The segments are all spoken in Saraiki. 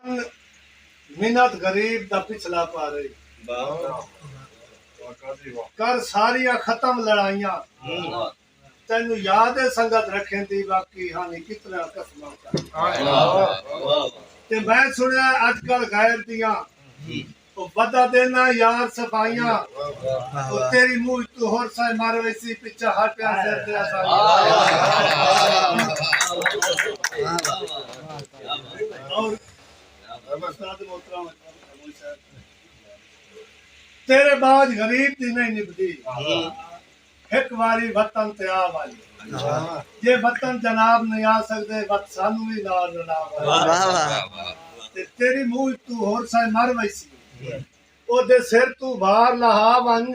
ول منت غریب دا پچھلا پارے کر ساریاں ختم لڑائیاں تینوں یاد ہے سنگت رکھیندی باقی ہانی کتنا قسماں کر تے میں سنیا اج کل غیر دیاں او ودا دینا یار صفائیاں او تیری منہ وچ تو ہور سائے مر ویسی پچھا ہر پیار سر تے اساں تیرے باج غریب دی نہیں نبدی ہک واری وطن تے آ ونڄ جے وطن جناب نئیں آ سڳدے وت سانوں وی نال رلا ونڄ تے تیݙی موجھ توں ہور سئیں مر ویسی اوݙے سر توں بھار لہا ونڄ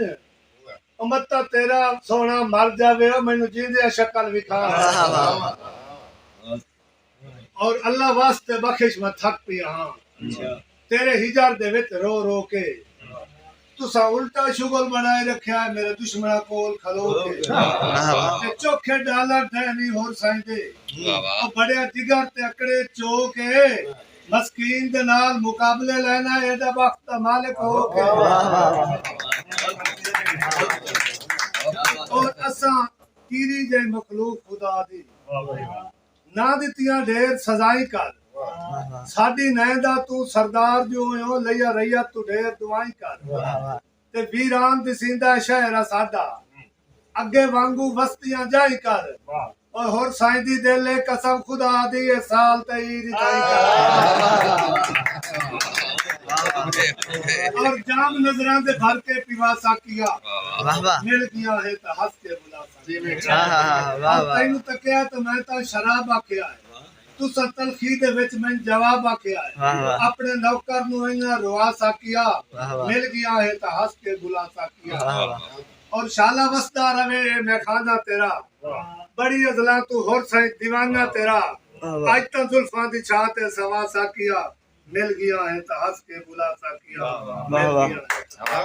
او متاں تیݙا سوہݨا مر جاوے او مینوں جیندیاں شکل وکھا ونڄ۔ اور اللہ واسطے بخش میں تھک پیا ہاں تیرے ہجر دے وچ رو رو کے تسا الٹا شغل بنائے رکھیا ہے میرے دشمنا کول کھلو کے تے چوکھے ڈالر دے نہیں ہور سائیں دے او بڑے جگر تے اکڑے چو کے مسکین دے نال مقابلے لینا ہے ایڈا وقت دا مالک ہو کے اور اساں کیری جے مخلوق خدا دی نہ ݙتیاں ڈھیر سزائیں کر ساݙی نئیں دا توں سردار جو ہویوں لئیا رعیت توں ڈھیر دعائیں کر تے ویران دسیندا ہے شہر اساݙا اڳے وانگوں وستیاں جائیں کر او ہور سائیں دی دل ہے قسم خدا دی اے سال تے عید اتھائیں کر اور جام نظراں دے بھر کے پیوا ساقیا مل گیاں ہے تاں ہس کے بلا آں تینوں تکیا ہے تاں میں تاں شراب آکھیا ہے تساں تلخی دے وچ مینھ جواب آکھیا ہے اپنے نوکر نوں اینجھاں روا ساکیا مل گیاں ہے تاں ہس کے بھلا ساکیا اور شالا وسدا رہوے اے میخانہ تیرا بڑی ازلاں توں ہور سئیں دیوانہ تیرا اج تاں زلفاں دی چھاں تے سوا ساکیا مل گیاں ہے تاں ہس کے بھلا ساکیا مل گیاں ہے تاں